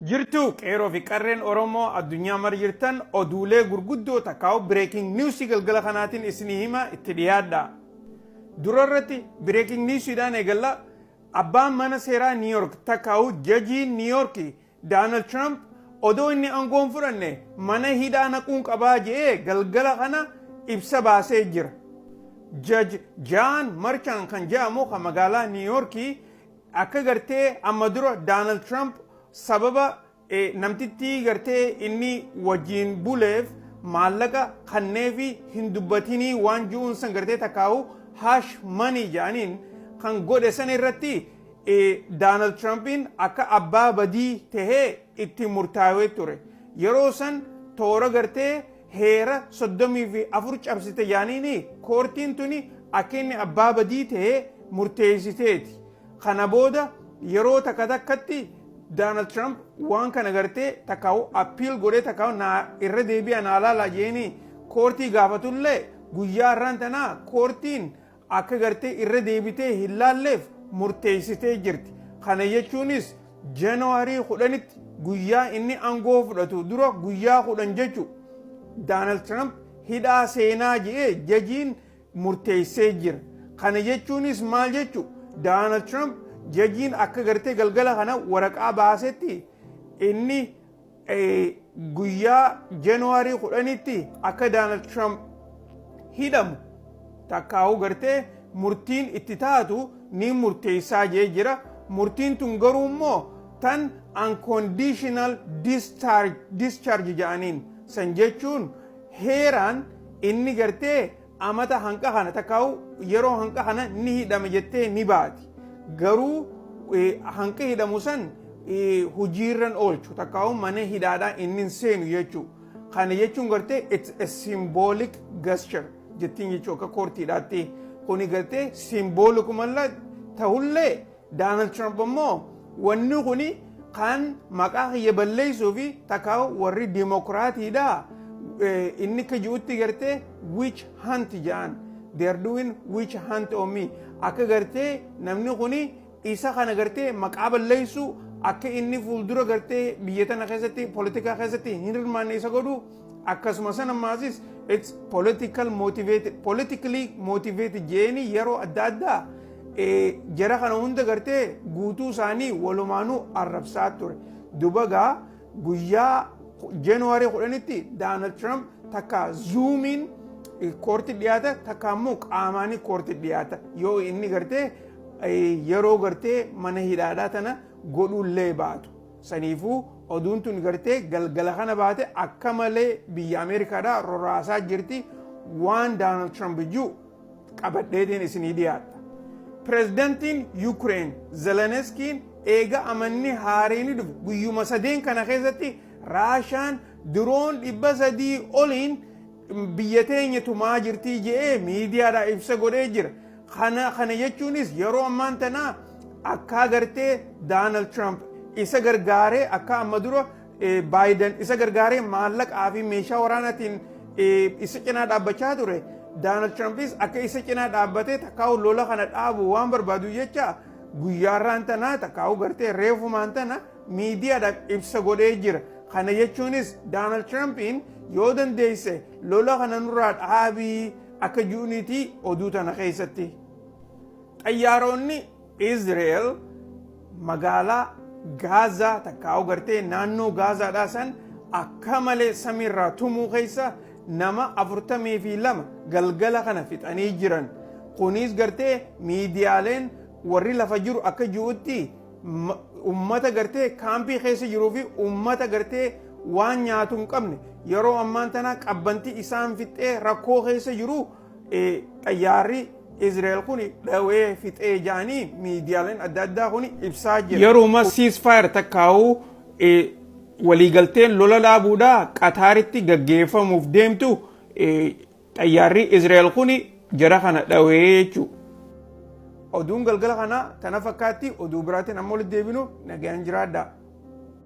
Jirtuu qeeroo fi qarreen oromoo addunyaa mara jirtan oduulee gurguddoo takkaa'u breaking news galgala kanaatiin isinii hima itti dhiyaadhaa. Dura irratti breaking news dhaan eegalla abbaan mana seeraa New York takkaa'u jajiin New York Donald Trump odoo inni aangoo hin fudhanne mana hidhaa naquun qabaa je'ee galgala kana ibsa baasee jira. Judge John Merchan kan je'amu kan magaalaa New York Akka gartee amma dura Daanald Tiraamp sababa namtittii gartee inni wajjin buleef maallaqa kanneefi hin dubbatinii waan ji'uun san gartee takkaa'u haash manii jedhaniin kan godhe san irratti Daanald Tiraampiin akka abbaa badii tahee itti murtaawee ture. Yeroo san toora gartee heera 34 cabsite jaaniini koortiin tuni akka inni abbaa badii ta'ee murteessiteeti. Kana booda yeroo takka takkatti Daanald Tiraamp waan kana gartee takkaa'u appiil godhee takkaa'u naa irra deebi'a naa laalaa jeeni koortii gaafatullee guyyaa irraan tanaa koortiin akka gartee irra deebitee hin laalleef murteessitee jirti. Kana jechuunis Janaarii kudhanitti guyyaa inni aangoo fudhatu dura guyyaa kudhan jechu Daanaald Tiraamp hidhaa seenaa je'ee jajiin murteessee jira. Kana jechuunis maal jechu Daanaald Tiraamp jajiin akka gartee galgala kana waraqaa baasetti inni guyyaa January kudhanitti akka Donald Trump hidhamu takkaa'uu gartee murtiin itti taatu ni murteessaa jee jira. Murtiin tun garuu immoo tan unconditional discharge jedhaniin san jechuun heeraan inni gartee amata hanqa kana takkaa'u yeroo hanqa kana ni hidhame jettee ni baati. Garuu hanqi hidhamu san hojiirran oolchu takkaa'u mana hidhaadhaa inni hin seenu jechuu. Kana jechuun gartee it's a symbolic gesture jettiin jechuu akka koortiidhaatti. Kuni gartee simboolikumalla ta'ullee Daanald Tiraamp ammoo wanni kun kan maqaa kiyya balleessuu fi takka warri dimokiraatiidha inni akka ji'utti gartee witch hunt ja'an they are doing witch hunt on me akka gartee namni kun isa kana gartee maqaa balleessuu akka inni fuuldura gartee biyya tana keessatti politikaa keessatti hin hirmaanne isa godhu akkasuma san ammaasis it's political motivated politically motivated jeeni yeroo adda addaa jara kana hunda gartee guutuu isaanii walumaanuu arrabsaa ture dubagaa guyyaa januwaarii kudhanitti daanald tiraamp takka zuumiin koorti dhiyaata takka immoo qaamaanii koorti dhiyaata yoo inni gartee yeroo gartee mana hidhaadhaa tana godhuullee baatu. Saniifuu oduun tun gartee galgala kana baate akka malee biyya Ameerikaadhaa roraasaa jirti waan Doonaald Tiraamp jiru qabadheetiin isinii dhiyaadha. Pireezidantiin Yukireen Zeleneskiin eega amanni haareenii dhufu guyyuma sadeen kana keessatti Raashaan diroon dhibba sadii oliin Biyya teenya tumaa jirtii je'ee miidiyaadhaa ibsa godhee jira. Kana kana jechuunis yeroo ammaan tanaa akkaa gartee Daanald Tiraamp isa gargaaree akka amma dura Baayidan isa gargaaree maallaqaa fi meeshaa waraanaatiin isa cinaa dhaabbachaa ture. Daanald Tirampis akka isa cinaa dhaabbatee takkaa'u lola kana dhaabu waan barbaadu jecha guyyaarraan tanaa takkaa'u gartee reefumaan tana miidiyaadhaaf ibsa godhee jira. Kana jechuunis Doonaald Tiraampiin yoo dandeesse lola kana nurraa dhaabii akka ji'uniiti oduu tana keessatti. Xayyaaroonni Izreel magaalaa Gaazaa takkaa gartee naannoo Gaazaadhaa san akka malee samiirraa tumuu keessa nama afurtamii fi lama galgala kana fixanii jiran. Kunis gartee miidiyaaleen warri lafa jiru akka ji'utti Ma- Ummata gartee kaampii keessa jiruu fi ummata gartee waan nyaatu hin qabne yeroo ammaan tana qabbanti isaan fixee rakkoo keessa jiru eh, xayyaarri Israa'el kun dhawee fixee jaanii miidiyaaleen adda addaa kun ibsaa jira. Yeruma ceasefire takkaa'u eh, waliigalteen lola dhaabuudhaa Qataaritti gaggeeffamuuf deemtu eh, Xayyaarri Israa'el kuni jara kana dhawee jechuudha. Oduun galgala kanaa tana fakkaatti oduu biraatiin amma walitti deebinu nagaan jiraadhaa.